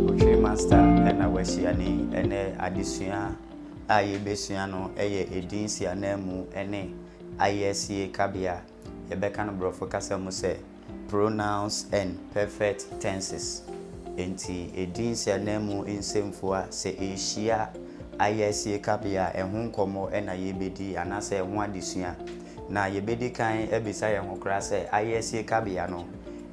Otwiri Master na wahyia ne ɛnɛ adesua a yɛrebɛsua no yɛ edin nsiananmu ne ayɛsie kabea, yɛbɛka no borɔfo kasa mu sɛ Pronouns and Perfect Tenses. Enti edin nsiananmu nsɛmfua sɛ ɛrehyia ayɛsie kabea a, ɛho nkɔmmɔ na yɛrebɛdi anaasɛ ɛho adesua. Na yɛbɛdi kan abisa yɛn ho koraa sɛ ayɛsie kabea no,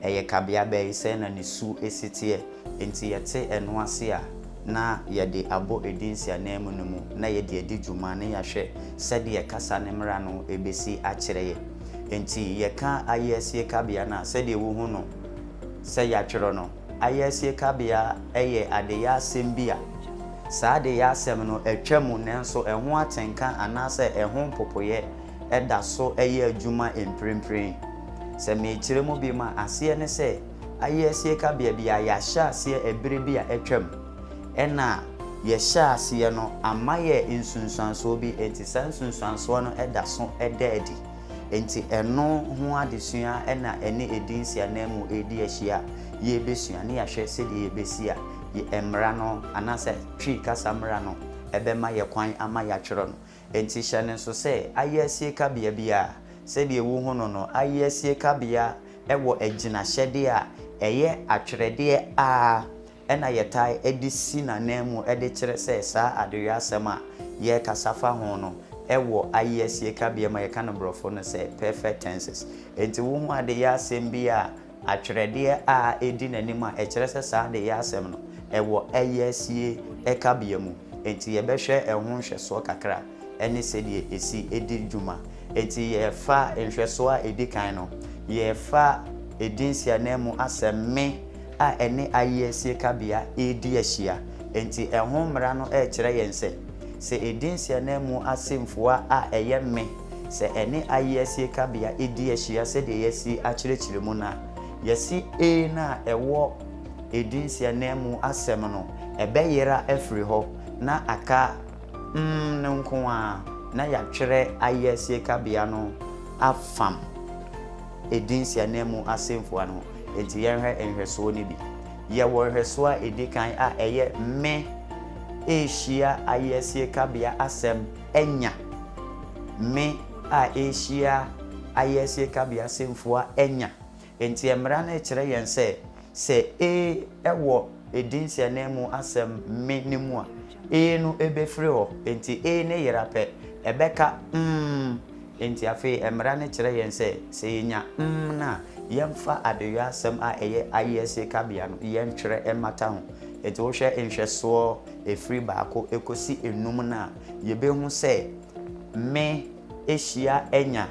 Ɛyɛ kabea bɛn? Sɛn na ne su si teɛ? Enti yɛte ɛno ase a, na yɛde abɔ edin si ananmu no mu, na yɛde adi dwuma, na yɛahwɛ sɛdeɛ kasa no mmara no bɛsi akyerɛ yɛn. Enti yɛka ayɛasie kabea no a, sɛdeɛ wohu no sɛ yɛatwerɛ no, ayɛasie kabea yɛ adeyɛ asɛm bi a saa adeyɛ asɛm no atwa mu nanso ɛho atenka anaasɛ ɛho mpopoeɛ da so yɛ adwuma mprempren. Sɛ merekyerɛ mu bio a, aseɛ ne sɛ, ayɛ asie ka baabi a yɛahyɛ aseɛ ɛberɛ bi a atwam. Ɛna yɛhyɛɛ aseɛ no, ama yɛ nsunsuansoɔ bi, enti saa nsunsuansoɔ no da so da adi. Enti ɛno ho adesua na ɛne ɛdin si ananmu redi ahyia a yɛrebɛsua ne yɛahwɛ sɛdeɛ yɛbɛsi a mmara no anaasɛ Twi kasa mmara no bɛma yɛ kwan ama yɛatwerɛ no. Enti hyɛ no nso sɛ ayeasie kabea bi a, sɛdeɛ wohu no no, ayeasie kabea wɔ agyinahyɛdeɛ a ɛyɛ atwerɛdeɛ ara na yɛtaa de si n'ananmu de kyerɛ sɛ saa adeyɔasɛm a yɛrekasa fa ho no wɔ ayeasie kabea mu a yɛka no borɔfo no sɛ perfect tenses. Enti wohu adeyɔasɛm bi a Atwerɛdeɛ a ɛdi n'anim a ɛkyerɛ sɛ saa adeyɛ asɛm no, ɛwɔ ɛyɛ sie kabea mu. Enti yɛbɛhwɛ ɛho nhwɛsoɔ kakra ne sɛdeɛ ɛsi di dwuma. Enti yɛfa nhwɛsoɔ a ɛdi kan no, yɛfa edin siananmu asɛm me a ɛne ayea sie kabea redi ahyia. Enti ɛho mmara no rekyerɛ yɛn sɛ, sɛ edin siananmu asɛmfua a ɛyɛ me, sɛ ɛne ayeasie kabea di ahyia sɛdeɛ yɛasi akyerɛkyerɛ mu no a, yɛse A no a ɛwɔ edin si ananmu asɛm no, ɛbɛyera afiri hɔ na aka M no nko ara, na yɛatwerɛ ayeasie kabea no afam edin si ananmu asɛmfua no ho. Enti yɛnhwɛ nhwɛsoɔ no bi. Yɛwɔ nhwɛsoɔ a ɛdi kan a ɛyɛ Me rehyia ayeasie kabea asɛm anya me a ɛrehyia ayɛesie kabea semfua anya. Enti mmara no rekyerɛ yɛn sɛ, sɛ ee wɔ edin sianee mu asɛm me no mu a, ee no bɛfiri hɔ. Enti ee no yera pɛ, ɛbɛka mm. Enti afei mmara no kyerɛ yɛn sɛ, sɛ yɛnya mm no a, yɛmfa adeyɔ asɛm a ɛyɛ ayɛesie kabea no yɛntwerɛ mmata ho. Enti wohwɛ nhwɛsoɔ Ɛfiri baako kɔsi nnum no a, yɛbɛhu sɛ me, hyia, anya.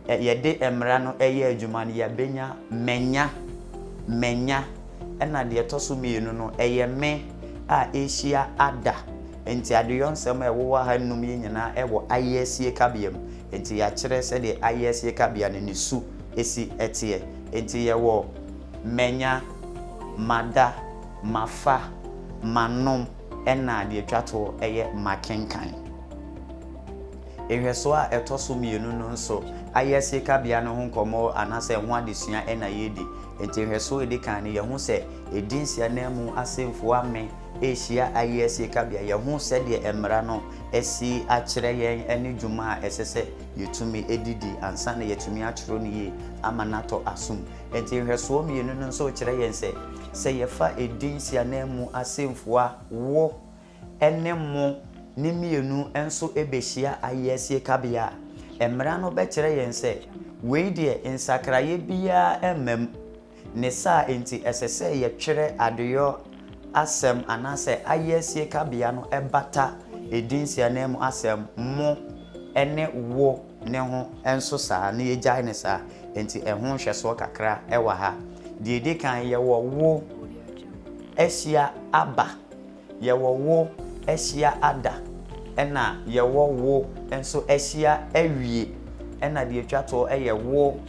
Yɛde mmara no yɛ adwuma no, yɛabɛnya manya, manya. Ɛna deɛ ɛtɔ so mmienu no, ɛyɛ me a ɛrehyia ada. Enti adeyɔnsɛm a ɛwowɔ ha nnum yi nyinaa wɔ ayɛasie kabea mu. Enti yɛakyerɛ sɛdeɛ ayɛasie kabea no ne su si teɛ. Enti yɛwɔ manya, mada. Mafa, manom, ɛna deɛ ɛtwa toɔ yɛ makenkan. Nhwɛsoɔ a ɛtɔ so mmienu no nso, ayɛsie kabea no ho nkɔmmɔ anaasɛ ɛho adesua na yɛredi. Enti nhwɛsoɔ a ɛdi kan no, yɛhu sɛ ɛdin Siananmu asɛmfua me rehyia ayɛsie kabea. Yɛhu sɛdeɛ mmara no asi akyerɛ yɛn ne dwuma a ɛsɛ sɛ yɛtumi de di ansa na yɛatumi atwerɛ no yie ama no atɔ asom. Enti nhwɛsoɔ mmienu no nso kyerɛ yɛn sɛ, sɛ yɛfa edin nsiananmu asɛmfua wo ne mo ne mmienu nso bɛhyia ayɛasie kabea a, mmara no bɛkyerɛ yɛn sɛ, wei deɛ nsakraeɛ biara mma mu. Ne saa nti, ɛsɛ sɛ yɛtwerɛ adeyɔ asɛm anaasɛ ayɛasie kabea no bata edin nsiananmu asɛm mo ne wo. ne ho nso saa na yɛgyae no saa. Enti ɛho nhwɛsoɔ kakra wɔ ha. Deɛ ɛdi kan, yɛwɔ wo ahyia aba, yɛwɔ wo ahyia ada, ɛna yɛwɔ wo nso ahyia awie, ɛna deɛ ɛtwa toɔ yɛ wo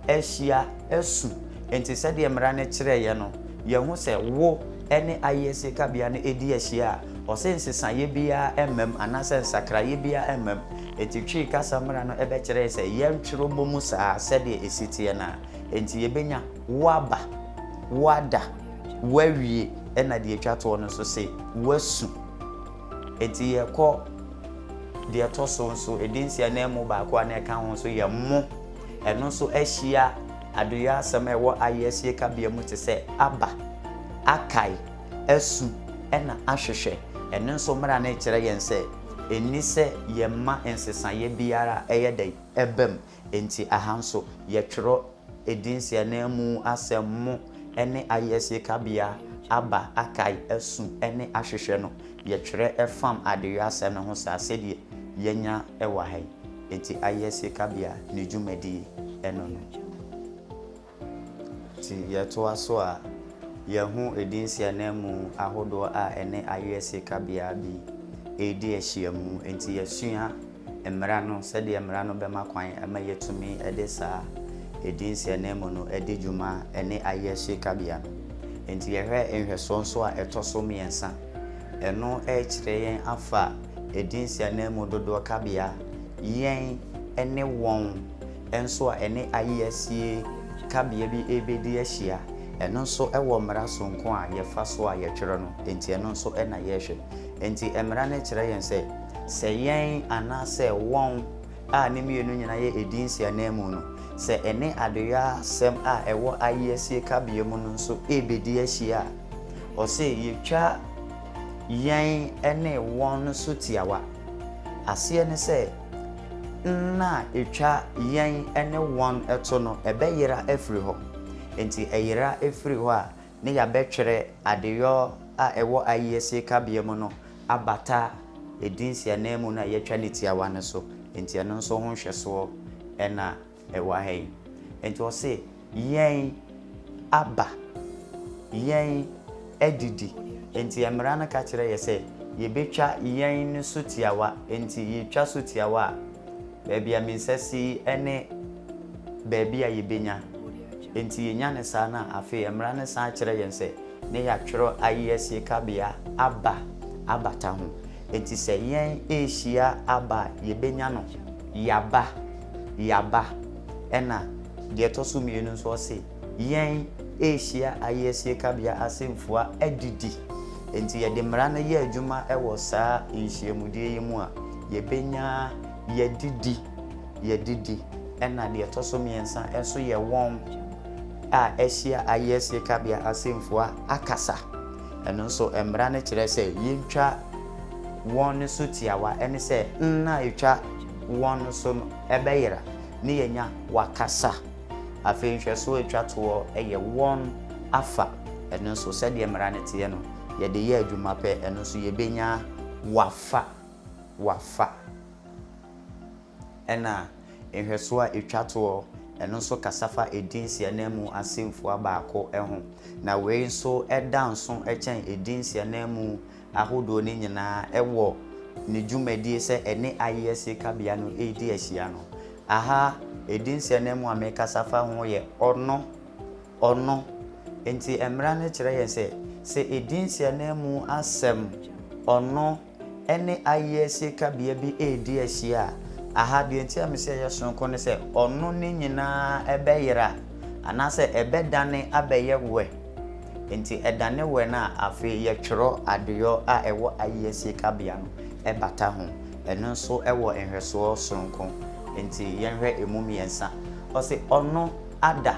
ahyia asu. Enti sɛdeɛ mmara no kyerɛeɛ no, yɛahu sɛ wo ne ayɛsie kabea no di ahyia a, ɔse nsesaeɛ biara mma mu anaasɛ nsakraeɛ biara mma mu. Enti Twi kasa mmara no bɛkyerɛe sɛ yɛntwerɛ bɔ mu saa sɛdeɛ ɛsi teɛ no a, enti yɛbɛnya woaba, woada, woawie ɛna deɛ ɛtwa toɔ no nso se woasu. Enti yɛkɔ deɛ ɛtɔ so nso, ɛdi nse ananmu baako a na ɛka ho nso yɛ mo. Ɛno nso ahyia adeyɔ asɛm a ɛwɔ ayeɛ sie kabea mu te sɛ aba, akae, asu, ɛna ahwehwɛ. Ɛno nso mmara no rekyerɛ yɛn sɛ. Enni sɛ yɛma nsesaeɛ biara a ɛyɛ dɛ ɛba mu. Enti aha nso, yɛtwerɛ edin siananmu asɛm mo ne ayɛsie kabea aba akae asu ne ahwehwɛ no. Yɛtwerɛ fam adeyɔasɛm no ho saa sɛdeɛ yɛanya wɔ ha yi. Enti ayɛsie kabea ne dwumadie no no. Nti yɛtoa so a, yɛahu edinsi ananmu ahodoɔ a ɛne ayeɛ sieekabea bi redi ahyiam. Nti yɛasua mmara no, sɛdeɛ mmara no bɛma kwan ma yɛatumi de saa edinsi ananmu no adi dwuma ne ayeɛ sieekabea no. Nti yɛhwɛ nhwɛsoɔ nso a ɛtɔ so mmiɛnsa. Ɛno rekyerɛ yɛn afa edinsi ananmu dodoɔ kabea, yɛn ne wɔn. nso a ɛne ayeasie kabea bi rebɛdi ahyia. Ɛno nso wɔ mmara sononko a yɛfa so a yɛtwerɛ no, enti ɛno nso na yɛrehwɛ. Enti mmara no kyerɛ yɛn sɛ, sɛ yɛn anaasɛ wɔn a ne mmienu nyinaa yɛ edin nsiananmu no, sɛ ɛne adeyɔasɛm a ɛwɔ ayeasie kabea mu no nso rebɛdi ahyia a, ɔse yɛtwa yɛn ne wɔn no so tiawa. Aseɛ ne sɛ, nna a etwa yɛn ne wɔn to no, ɛbɛyera afiri hɔ. Enti ɛyera firi hɔ a, na yɛabɛtwerɛ adeyɔ a ɛwɔ ayiesie kabea mu no abata edin nsiananmu no a yɛatwa no tiawa no so. Enti ɛno nso ho nhwɛsoɔ na. ɛwɔ ha yi. Enti ɔse, Yɛn aba, yɛn adidi, enti mmara no ka kyerɛ yɛ sɛ yɛbɛtwa yɛn no so tiawa, enti yɛtwa so tiawa a, baabi a mensa si yi ne baabi a yɛbɛnya. Enti yɛnya no saa no a, afei mmara no san kyerɛ yɛn sɛ ne yɛatwerɛ ayɛsie kabea aba abata ho. Enti sɛ yɛn rehyia aba a, yɛbɛnya no. Yaba, yaba, ɛna deɛ ɛtɔ so mmienu nso ɔse, yɛn rehyia ayiesie kabea asɛmfua adidi. Enti yɛde mmara no yɛ adwuma wɔ saa nhyiamudie yi mu a, yɛbɛnya yɛadidi, yɛadidi, ɛna deɛ ɛtɔ so mmiɛnsa nso yɛ wɔn a ahyia ayiesie kabea asɛmfua akasa. Ɛno nso, mmara no kyerɛ sɛ yentwa wɔn no so tiawa, ɛne sɛ nna a etwa wɔn no so no bɛyera, ne yɛanya wɔakasa. Afei nhwɛso a etwa toɔ yɛ wɔn afa. Ɛno nso, sɛdeɛ mmara no teɛ no, yɛde yɛ adwuma pɛ, ɛno nso yɛbɛnya wɔafa, wɔafa. Ɛnna nhwɛso a etwa toɔ no nso kasa fa edin siananmu asɛmfua baako ho, na wei nso da nso kyɛn edin siananmu ahodoɔ no nyinaa wɔ ne dwumadie sɛ ɛne ayeɛ siekabea no redi ahyia no. Aha edin siananmu a merekasa fa ho yɛ ɔno, ɔno. Enti mmara no kyerɛ yɛn sɛ, sɛ edin siananmu asɛm ɔno ɛne ayɛsie kabea bi redi ahyia a, aha deɛ enti a mese ɛyɛ sononko ne sɛ ɔno ne nyinaa bɛyera anaasɛ ɛbɛdane abɛyɛ wɛ. Enti ɛdane wɛ no a, afei yɛtwerɛ adeyɔ a ɛwɔ ayɛsie kabea no bata ho. Ɛno nso wɔ nhwɛsoɔ sononko. Enti yɛnhwɛ ɛmu mmiɛnsa. Ɔse, ɔno ada,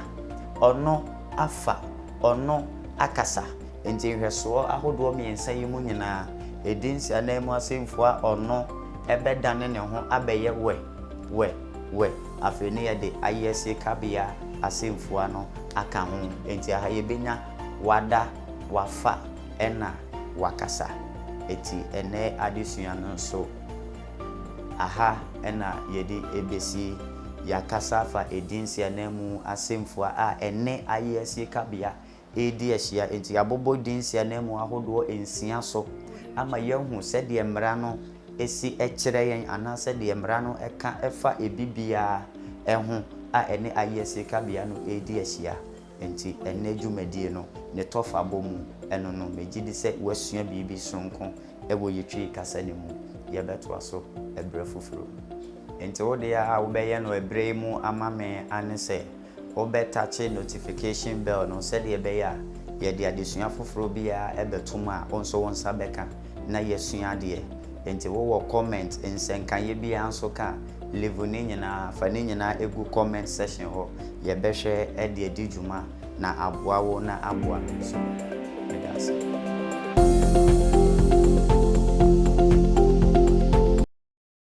ɔno afa, ɔno akasa. Enti nhwɛsoɔ ahodoɔ mmiɛnsa yi mu nyinaa, ɛdins ananmu asɛmfua ɔno bɛdane ne ho abɛyɛ wɛ, wɛ, wɛ. Afei ne yɛde ayeɛsie kabea asɛmfua no aka ho. Enti aha yɛbɛnya wada, wafa, ɛna wakasa. Eti ɛnnɛ adesua no nso, aha na yɛde bɛsi. Yɛakasa afa ɛdins ananmu asɛmfua a ɛne ayeɛsie kabea redi ahyia. Enti yɛabobɔ din nsiananmu ahodoɔ nsia so ama yɛahu sɛdeɛ mmara no si kyerɛ yɛn anaa sɛdeɛ mmara no ka fa ebi biara ho a ɛne ayeɛ sirikabea no redi ahyia. Enti ɛnnɛ dwumadie no ne tɔfabɔ mu no no, megye di sɛ woasua biribi sononko wɔ yɛn Twi kasa no mu. Yɛbɛtoa so berɛ foforɔ mu. Enti wo deɛ a wobɛyɛ no berɛ yi mu ama me ane sɛ. Wobɛtakye notification bell no sɛdeɛ ɛbɛyɛ a yɛde adesua foforɔ biara bɛto mu a wo nso wo nsa bɛka na yɛasua adeɛ. Enti wowɔ comment, nsɛnkaeɛ biara nso ka a, leave ne nyinaa, fa ne nyinaa gu comment section hɔ. Yɛbɛhwɛ de adi dwuma na aboa wo na aboa me nso. Meda ase.